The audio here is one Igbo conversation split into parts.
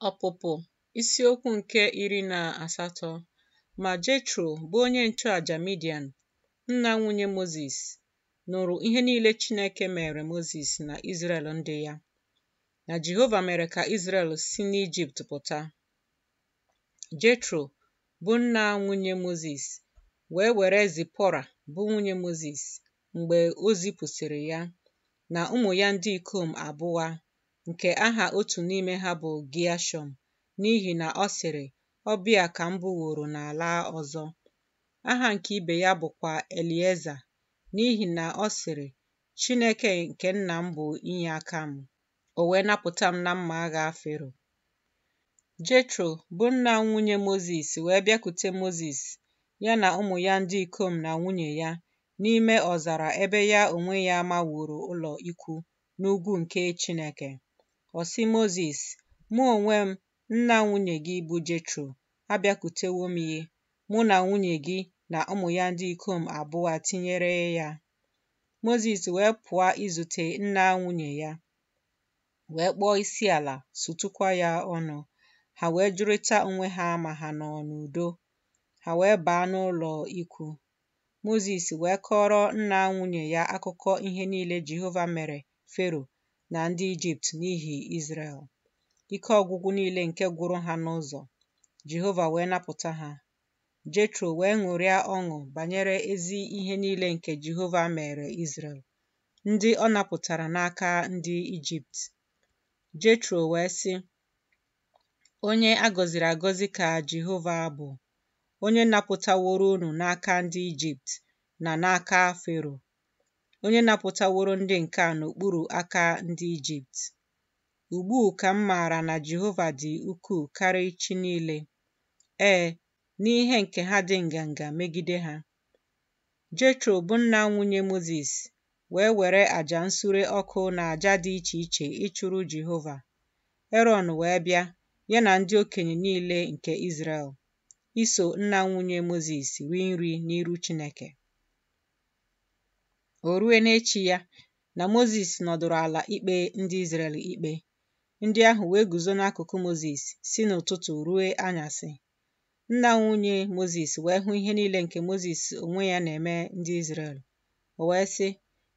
Ọpụpụ isiokwu nke iri na asatọ Ma Jetro, bụ onye nchụaja Midian, nna nwunye Mozis, nụrụ ihe niile Chineke mere Mozis na Izrel ndị ya, na Jehova mere ka Izrel si n'Ijipt pụta. Jetro, bụ nna nwunye Mozis, wee were Zipọra, bụ nwunye Mozis, mgbe o zipụsịrị ya, na ụmụ ya ndị ikom abụa nke aha otu n'ime ha bụ Geashọm, n'ihi na ọ sịrị, Ọbịa ka m bụworo n'ala ọzọ. Aha nke ibe ya bụkwa Elieza, n'ihi na ọ sịrị, Chineke nke nna m bụ inye aka m, o wee napụta m na mma agha Fero. Jetro, bụ nna nwunye Mozis, wee bịakute Mozis, ya na ụmụ ya ndị ikom na nwunye ya, n'ime ọzara ebe ya onwe ya maworo ụlọ ikwu n'ugwu nke Chineke. Ọ sị Mozis, Mụ onwe m, nna nwunye gị bụ Jetro, abịakwutewo m gị, mụ na nwunye gị na ụmụ ya ndị ikom abụa tinyere ya. Mozis wee pụa izute nna nwunye ya, wee kpọọ isi ala, sutukwa ya ọnụ. Ha wee jụrịta onwe ha ma ha nọ n'udo. Ha wee baa n'ụlọ ikwu. Mozis wee kọọrọ nna nwunye ya akụkọ ihe niile Jehova mere Fero na ndị Ijipt n'ihi Izrel, ike ọgwụgwụ niile nke gwụrụ ha n'ụzọ, Jehova wee napụta ha. Jetro wee ṅụrịa ọṅụ banyere ezi ihe niile nke Jehova mere Izrel, ndị ọ napụtara n'aka ndị Ijipt. Jetro wee sị, Onye a gọziri agọzi ka Jehova bụ, onye napụtaworo unu n'aka ndị Ijipt na n'aka Fero, onye napụtaworo ndị nke a n'okpuru aka ndị Ijipt. Ugbu ka m maara na Jehova dị ukwuu karịa chi niile, ee, n'ihe nke ha dị nganga megide ha. Jetro bụ nna nwunye Mozis wee were aja nsure ọkụ na aja dị iche iche ịchụrụ Jehova. Erọn wee bịa, ya na ndị okenye niile nke Izrel, iso nna nwunye Mozis rie nri n'iru Chineke. O rue n'echi ya na Mozis nọdụrụ ala ikpe ndị Izrel ikpe, ndị ahụ wee guzo n'akụkụ Mozis si n'ụtụtụ rue anyasị. Nna nwunye Mozis wee hụ ihe niile nke Mozis onwe ya na-eme ndị Izrel. O wee sị,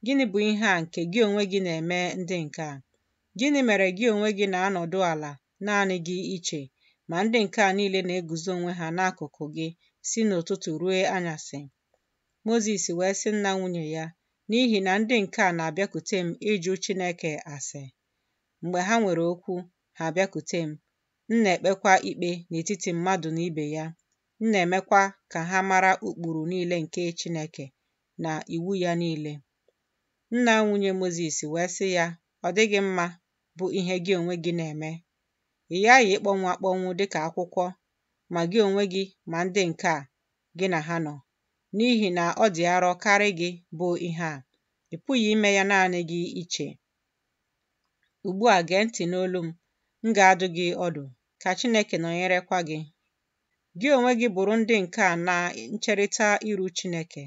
Gịnị bụ ihe a nke gị onwe gị na-eme ndị nke a? Gịnị mere gị onwe gị na-anọdụ ala naanị gị iche, ma ndị nke a niile na-eguzo onwe ha n'akụkụ gị si n'ụtụtụ ruo anyasị. Mozis wee sị nna nwunye ya, N'ihi na ndị nke a na-abịakute m ịjụ Chineke ase. Mgbe ha nwere okwu, ha abịakute m. M na-ekpekwa ikpe n'etiti mmadụ na ibe ya. M na-emekwa ka ha mara ụkpụrụ niile nke Chineke na iwu ya niile. Nna nwunye Mozis wee sị ya, ọ dịghị mma bụ ihe gị onwe gị na-eme. Ị ghaghị ịkpọnwụ akpọnwụ dị ka akwụkwọ ma gị onwe gị ma ndị nke a gị na ha nọ, n'ihi na ọ dị arọ karị gị bụ ihe a, ị pụghị ime ya naanị gị iche. Ugbu a gee ntị n'olu m, m ga-adụ gị ọdụ, ka Chineke nọnyerekwa gị. Gị onwe gị bụrụ ndị nke a na ncherịta iru Chineke,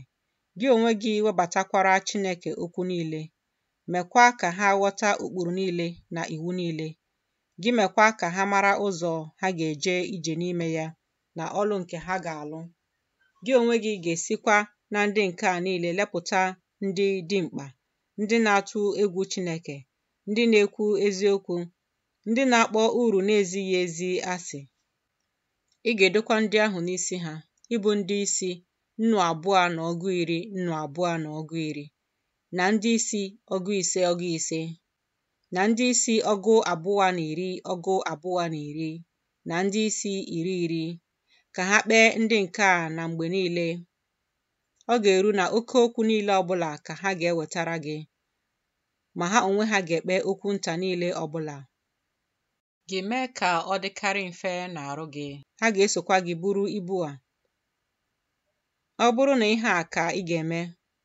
gị onwe gị webatakwara Chineke okwu niile mekwa ka ha ghọta ụkpụrụ niile na iwu niile, gị mekwa ka ha mara ụzọ ha ga-eje ije n'ime ya na ọlụ nke ha ga-alụ. Gị onwe gị ga-esikwa na ndị nke a niile lepụta ndị dimkpa, ndị na-atụ egwu Chineke, ndị na-ekwu eziokwu, ndị na-akpọ uru na-ezighị ezi asị. Ị ga-edokwa ndị ahụ n'isi ha, ịbụ ndị isi nnụ abụọ na ọgụ iri nnụ abụọ na ọgụ iri. na ndị isi ọgụ ise ọgụ ise na ndị isi ọgụ abụọ na iri ọgụ abụọ na iri na ndị isi iri iri ka ha kpee ndị nke a na mgbe niile ọ ga-eru na oke okwu niile ọbụla ka ha ga-ewetara gị ma ha onwe ha ga-ekpe okwu nta niile ọbụla gị mee ka ọ dịkarị mfe n'arụ gị. Ha ga-esokwa gị buru ibu a. Ọ bụrụ na ihe a ka ị ga-eme,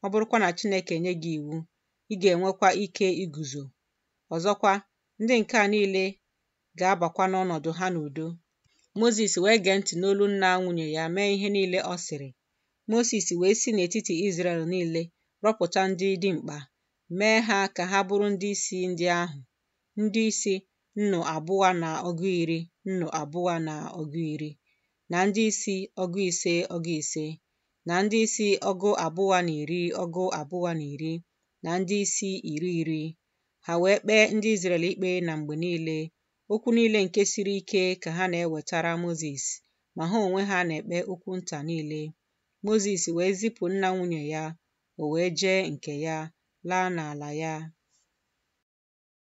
ọ bụrụkwa na Chineke enye gị iwu, ị ga-enwekwa ike iguzo. Ọzọkwa, ndị nke a niile ga-abakwa n'ọnọdụ ha n'udo. Mozis wee gee ntị n'olu nna nwunye ya mee ihe niile ọ sịrị. Mozis wee si n'etiti Izrel niile rọpụta ndị dimkpa, mee ha ka ha bụrụ ndị isi ndị ahụ. ndị isi nnụ abụọ na ọgụ iri nnụ abụọ na ọgụ iri na ndị isi ọgụ ise ọgụ ise na ndị isi ọgụ abụọ na iri ọgụ abụọ na iri na ndị isi iri iri ha wee kpee ndị Izrel ikpe na mgbe niile okwu niile nke siri ike ka ha na-ewetara Mozis ma ha onwe ha na-ekpe okwu nta niile Mozis wee zipụ nna nwunye ya o wee jee nke ya laa n'ala ya